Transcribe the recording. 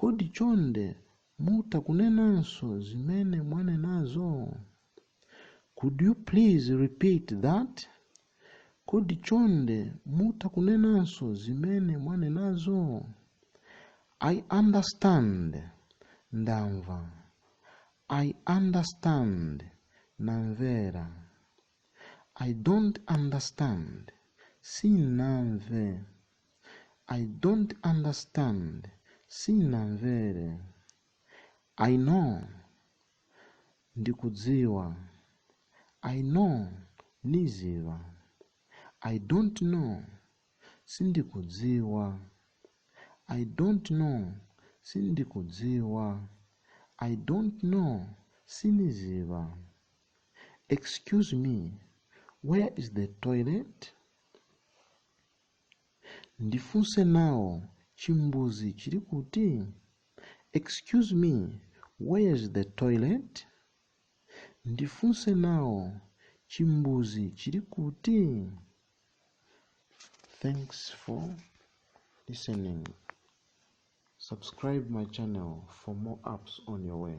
Kodi chonde mutha kunenanso zimene mwanenazo? Could you please repeat that? Kodi chonde mutha kunenanso zimene mwanenazo? I understand. Ndamva. I understand. Ndamvera. I don't understand. Sinamve. I don't understand. Sinamvere. I know. Ndikudziwa. I know. Niziva. I don't know. Sindikudziwa. I don't know. Sindikudziwa. I don't know. Siniziva. Excuse me, where is the toilet? Ndifunse nawo chimbuzi chili kuti? Excuse me, where is the toilet? Ndifunse nawo chimbuzi chili kuti? Thanks for listening. Subscribe my channel for more apps on your way.